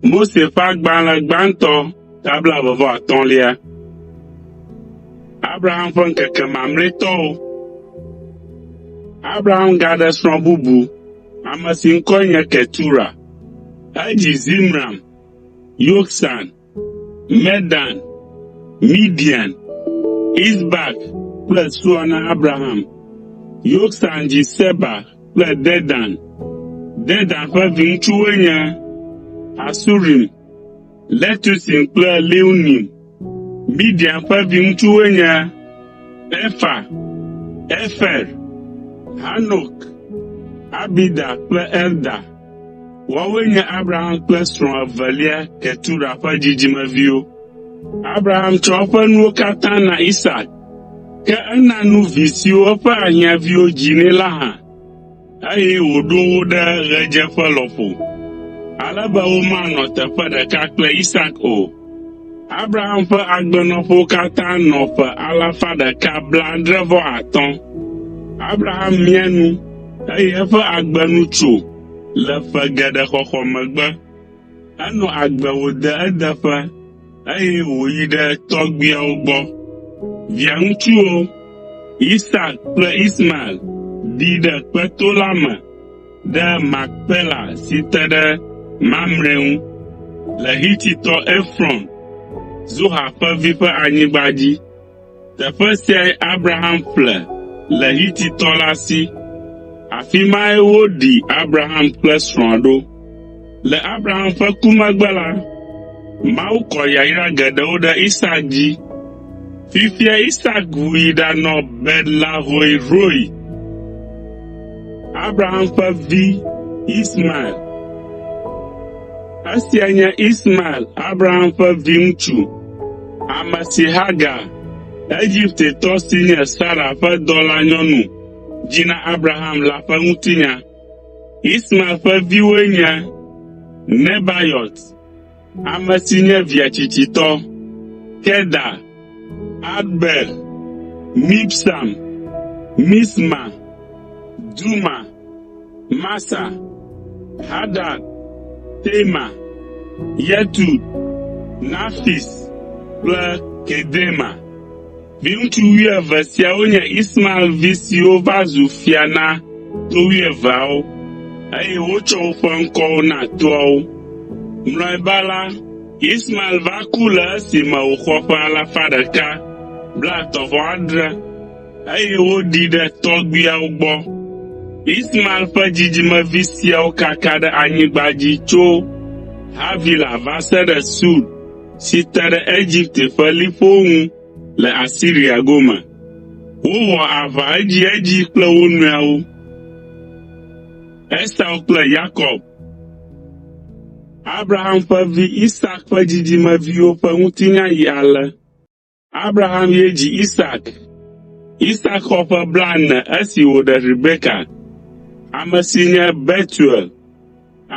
Mose ƒe agbalẽ gbãtɔ ta blaeve vɔ atɔ̃lia. Abraham ƒe ŋkeke mamlɛtɔwo. Abraham gaɖe srɔ̃ bubu, ame si ŋkɔe nye Ketura. Edzi Zimram, Yoksan Medan, Midian, Isbak kple Sua na Abraham. Yoksan dzi Seba kple Dedan. Dedan ƒe viŋutsuwoe nye Asurim, Letusim kple Leunim. Midian ƒe viŋutsuwoe nye Efa, Efer, Hanok, Abida kple Elda. Woawoe nye Abraham kple srɔ̃a evelia Ketura ƒe dzidzimeviwo. Abraham tsɔ eƒe nuwo katã na Isak, ke ena nu vi siwo eƒe ahiãviwo dzi nɛ la hã, eye wòɖo wo ɖe ɣedzeƒe lɔƒo, ale be womanɔ teƒe ɖeka kple Isak o. Abraham ƒe agbenɔƒewo katã nɔ ƒe alafa ɖeka blaadre-vɔ-atɔ̃. Abraham mia nu, eye eƒe agbe nu tso le ƒe geɖe xɔxɔ megbe. Enɔ agbe wòde edeƒe, eye wòyi ɖe tɔgbuiawo gbɔ. Viaŋutsuwo, Isak kple Ismael, ɖi ɖe kpeto la me ɖe Makpela si te ɖe Mamre ŋu le Hititɔ Efrɔn, Zoha ƒe vi ƒe anyigba dzi. Teƒe siae Abraham ƒle le Hititɔ la si. Afi mae woɖi Abraham kple srɔ̃a ɖo. Le Abraham ƒe ku megbe la, Mawu kɔ yayra geɖewo ɖe Isak dzi. Fifia Isak wui ɖanɔ Betlehoeroe. Abraham ƒe vi Ismael. Esia nye Ismael, Abraham ƒe viŋutsu. Ame si Hagar, Egiptetɔ si nye Sara ƒe dɔlanyɔnu dzi na Abraham la ƒe ŋutinya. Ismael ƒe viwoe nye Nebayot, ame si nye via tsitsitɔ, Kedar, Adbeel, Mibsam, Misma, Duma, Masa, Hadad, Tema, Yetut, Nafis kple Kedema. Viŋutsu wuieve siawo nye Ismael vi siwo va zu fia na to wuieveawo, eye wotsɔ woƒe ŋkɔwo na toawo. Mlɔeba la, Ismael va ku le esime wòxɔ ƒe alafa ɖeka blaetɔ̃-vɔ-adre. eye woɖii ɖe tɔgbuiawo gbɔ. Ismael ƒe dzidzimevi siawo kaka ɖe anyigba dzi tso Havila va se ɖe Sur si te ɖe Egipte ƒe liƒowo ŋu le Asiria gome. Wowɔ aʋa edziedzi kple wo nɔewo. Esau kple Yakob Abraham ƒe vi Isak ƒe dzidzimeviwo ƒe ŋutinya yi ale. Abraham ye dzi Isak. Isak xɔ ƒe blaene esi wòɖe Rebeka, ame si nye Betuel,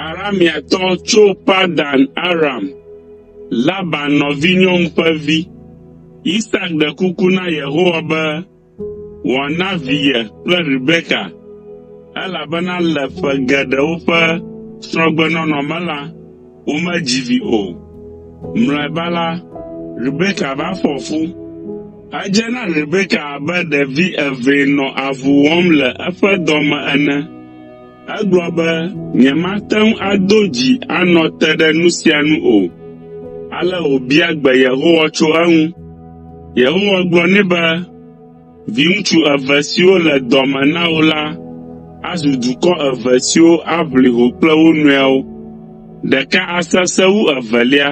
Arameatɔ tso Padan Aram, Laban nɔvinyɔnu ƒe vi. Isak ɖe kuku na Yehowa be, wòana vi ye kple Rebeka, elabena le ƒe geɖewo ƒe srɔ̃gbenɔnɔ me la, womedzi vi o. Mlɔeba la, Rebeka va fɔ fu. Edze na Rebeka abe ɖevi evee nɔ avu wɔm le eƒe dɔ me ene. Egblɔ be, “Nyemate ŋu ado dzi anɔ te ɖe nu sia nu o.” Ale wòbia gbe Yehowa tso eŋu. Yehowa gblɔ nɛ be, “Viŋutsu eve siwo le dɔ me na wò la azu dukɔ eve siwo aʋli ho kple wo nɔewo. Ɖeka asesẽ wu evelia,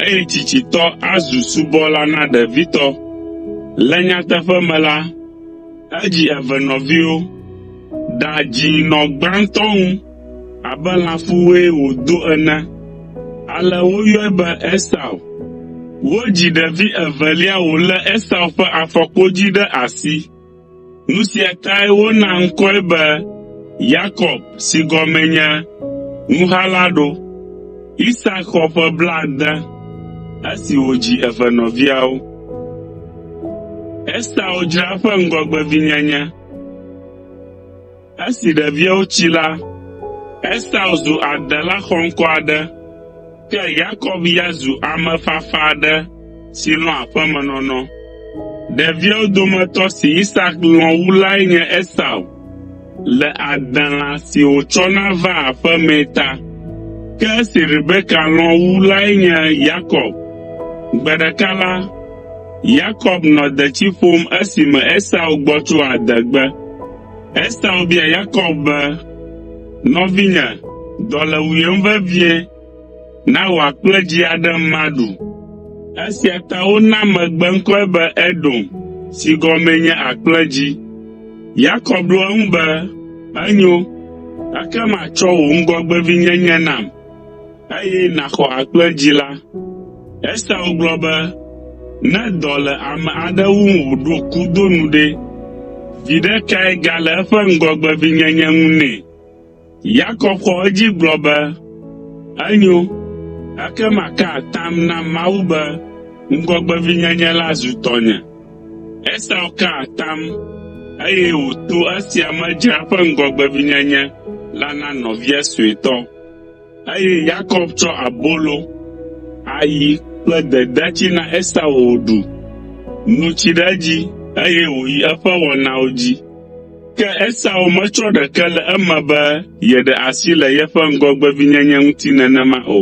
eye tsitsitɔ azu subɔla na ɖevitɔ. Le nyateƒe me la, edzi eve nɔviwo.” Da dzi nɔ gbãtɔ ŋu abe lãfuwoe wòdo ene. Ale woyɔe be Esau. Wodzi ɖevi evelia wòlé Esau ƒe afɔkpodzi ɖe asi. Nu sia tae wona ŋkɔe be Yakob si gɔmee nye Nuhala ɖo. Isak xɔ ƒe blaade esi wòdzi evenɔviawo. Esau dzra eƒe ŋgɔgbevinyenye Esi ɖeviawo tsi la, Esau zu adela xɔŋkɔ aɖe, ke Yakob ya zu ame fafa aɖe si lɔ̃a aƒemenɔnɔ. Ɖeviawo dometɔ si Isak lɔ̃ wu lae nye Esau le adela si wòtsɔna vaa aƒe mee ta. Ke esi Rebeka lɔ̃ wu lae nye Yakob. Gbe ɖeka la, Yakob nɔ detsi ƒom esime Esau gbɔ tso adegbe. Esau bia Yakob be, “Nɔvinye, dɔ le wuyem vevie. Na wò akple dzi aɖem maɖu.” Esia ta wona megbe ŋkɔe be Edom si gɔmee nye “Akple dzi.” Yakob ɖo eŋu be, “Enyo, ekema tsɔ wò ŋgɔgbevinyenye nam.” Eye nàxɔ agbe dzi la. Esau gblɔ be, Ne dɔ le ame aɖe wum wòɖo ku do nu ɖe, viɖe kae gale eƒe ŋgɔgbevinyenye ŋu nɛ? Yakob xɔ edzi gblɔ be, Enyo, ekema ka atam na Mawu be ŋgɔgbevinyenye la zu tɔnye. Esau ka atam, eye wòto esia me dzra eƒe ŋgɔgbevinyenye la na nɔvia suetɔ. Eye Yakob tsɔ abolo, ayi kple dedatsi na Esau wòɖu, nu tsi ɖe edzi, eye wòyi eƒe wɔnawo dzi. Ke Esau metsɔ ɖeke le eme be yeɖe asi le yeƒe ŋgɔgbevinyenye ŋuti nenema o.